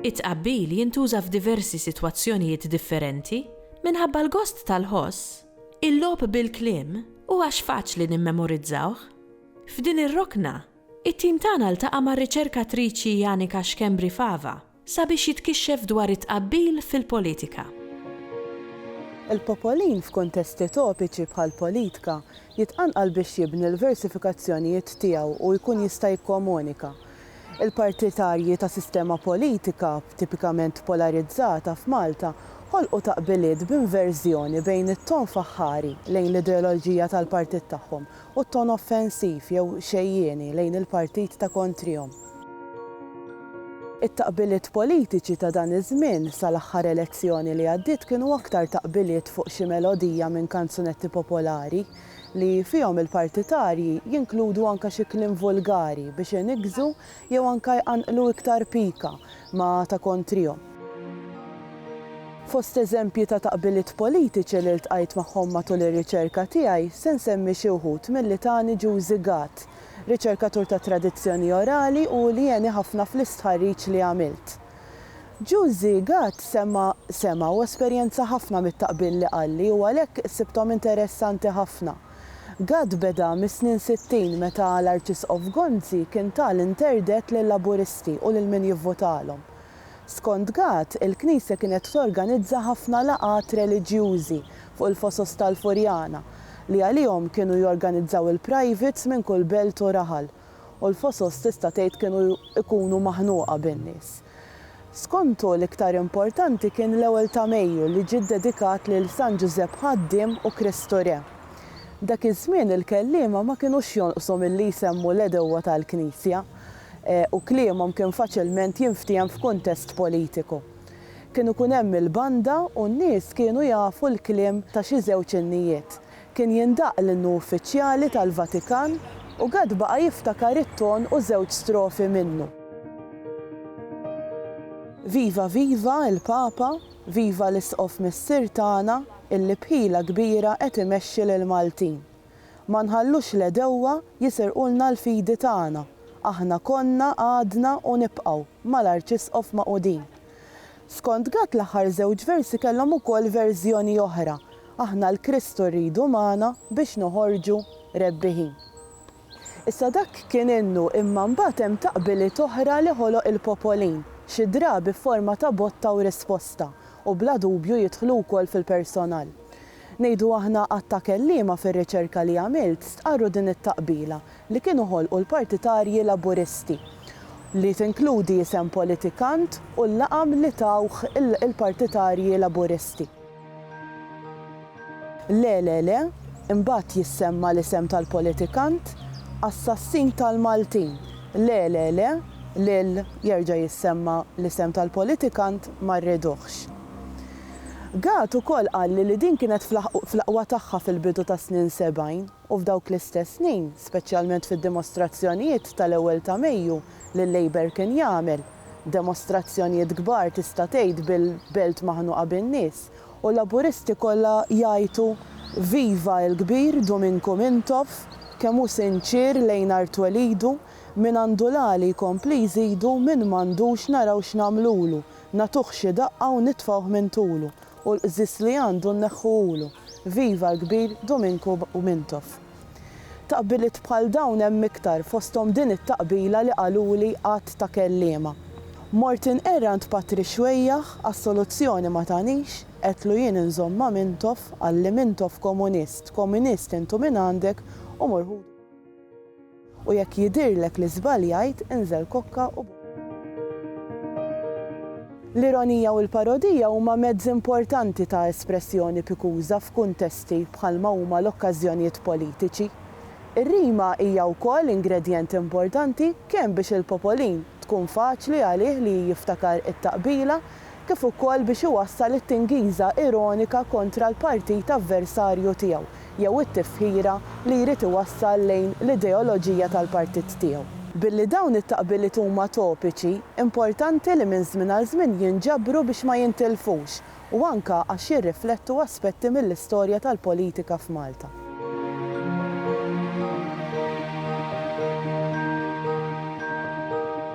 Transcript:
It-tqabbil jintuża f'diversi sitwazzjonijiet differenti, minħabba l-gost tal-ħoss, il-logħob bil-kliem u għax faċli nimmemorizzawh. F'din ir-rokna, It-tim tagħna ltaqa' mar-riċerkatriċi Janika Schembri Fava sabiex jitkixxef dwar it-tqabbil fil-politika. Il-popolin f'kuntesti topiċi bħall-politka jitqanqal biex jibni l-versifikazzjonijiet tiegħu u jkun jista' jikkomunika. Il-partitarji ta' sistema politika tipikament polarizzata f'Malta ħolqu taqbiliet b'inverżjoni bejn it-tonf aħħari lejn l-ideoloġija tal-partit tagħhom u t-ton offensiv jew xejjieni lejn il-partit ta' kontrihom. It-taqbiliet politiċi ta' dan iż-żmien sal-aħħar elezzjoni li għaddiet kienu aktar taqbiliet fuq xi melodija minn kanzunetti popolari li fihom il-partitarji jinkludu anke xi kliem vulgari biex iniggżu jew anke jqanqlu iktar pika ma ta kontrihom. Fost eżempji ta' taqbiliet politiċi li ltqajt magħhom matul ir-riċerka tiegħi se nsemmi xi wħud milli tani Juzi Gatt, riċerkatur tat-tradizzjoni orali u li għeni ħafna fl-istħarriġ li għamilt. Juzi Gatt semma sema u esperjenza ħafna mit-taqbil li qalli u għalhekk sibthom interessanti ħafna. Gatt beda mis-snin sittin meta l-Arċisqof Gonzi kien ta l-interdett lil-Laburisti u lil min jivvotalhom. Skont Gatt, il-Knisja kienet torganizza ħafna laqgħat reliġjużi fuq il-fosos tal-Furjana li għalihom kienu jorganizzaw il-privates minn kull belt u raħal u l-fosos tista' tgħid kienu jkunu maħnuqa bin-nies. Skontu, l-iktar importanti kien l-ewwel ta' Mejju li ġie ddedikat lil San Ġużepp Ħaddiem u Kristu Re. Dak iż-żmien il-kelliema ma kinux jonqsu milli jsemmu l-għedewwa tal-Knisja u kliemhom kien faċilment jinftiehem f'kuntest politiku. Kien ikun hemm il-banda u n-nies kienu jafu l-kliem ta' xi żewġ innijiet. Kien jindaqq l-innu uffiċjali tal-Vatikan u Gatt baqa' jiftakar it-ton u żewġ strofi minnu. Viva viva il-Papa, viva l-Isqof Missier tagħna illi b'ħila kbira qed imexxi lill-Maltin. Ma nħallux l-għedewwa jisirqulna l-fidi tagħna, aħna konna, għadna u nibqgħu mal-Arċisqof Maqudin. Skont Gatt l-aħħar żewġ versi kellhom ukoll verżjoni oħra, Aħna 'l Kristu rridu magħna biex noħorġu rebbiħin. Issa dak kien innu imma mbagħad hemm taqbiliet oħra li ħoloq il-popolin, xi drabi f'forma ta' botta u risposta, u bla dubju jidħlu wkoll fil-personal. Ngħidu aħna għadd ta' kelliema fir-riċerka li għamilt stqarru din it-taqbila, li kienu ħolqu l-partitarji Laburisti, li tinkludi isem politikant u l-laqam li tawh il-partitarji Laburisti. Le, le, le, imbagħad jissemma l-isem tal-politikant, assassin tal-Maltin! Le, le, le, lil, jerġa' jissemma l-isem tal-politikant, ma rriduhx. Gatt ukoll qalli li din kienet fl-aqwa tagħha fil-bidu tas-snin sebgħin. u f'dawk l-istess snin, speċjalment fid-dimostrazzjonijiet tal-ewwel ta' Mejju li l-Labour kien jagħmel, demostrazzjonijiet kbar tista' tgħid bil-belt maħnuqa bin-nies u Laburisti kollha jgħajtu Viva il-kbir Duminku Mintoff, kemm hu sinċier lejn art twelidu, mingħandu l-għali jkompli jżidu min m'għandux naraw x'nagħmlulu, nagħtuh xi daqqa u nitfgħuh minn tulu. u l-qżiż li għandu nneħħuhulu, viva l-kbir Duminku Mintoff. Taqbiliet bħal dawn hemm iktar fosthom din it-taqbila li qaluli għadd ta' kelliema. Mort inqerr għand Patri Xwejjaħ għax soluzzjoni ma tanix, għedtlu jien inżomm ma' Mintoff, qalli Mintoff komunist, komunist intu mingħandek u mur ħudu. U jekk jidhirlek li żbaljajt, inżel kokka u. L-ironija u l-parodija huma mezzi importanti ta' espressjoni pikuża f'kuntesti bħalma huma l-okkażjonijiet politiċi. Ir-rima hija wkoll ingredjent importanti kemm biex il-popolin tkun faċli għalih li jiftakar it-taqbila kif ukoll biex iwassal it-tingiża ironika kontra l-partit avversarju tiegħu jew it-tifħira li jrid iwassal lejn l-ideoloġija tal-partit tiegħu. Billi dawn it-taqbiliet huma topiċi, importanti li minn żmien għal żmien jinġabru biex ma jintilfux u anke għax jirriflettu aspetti mill-istorja tal-politika f'Malta.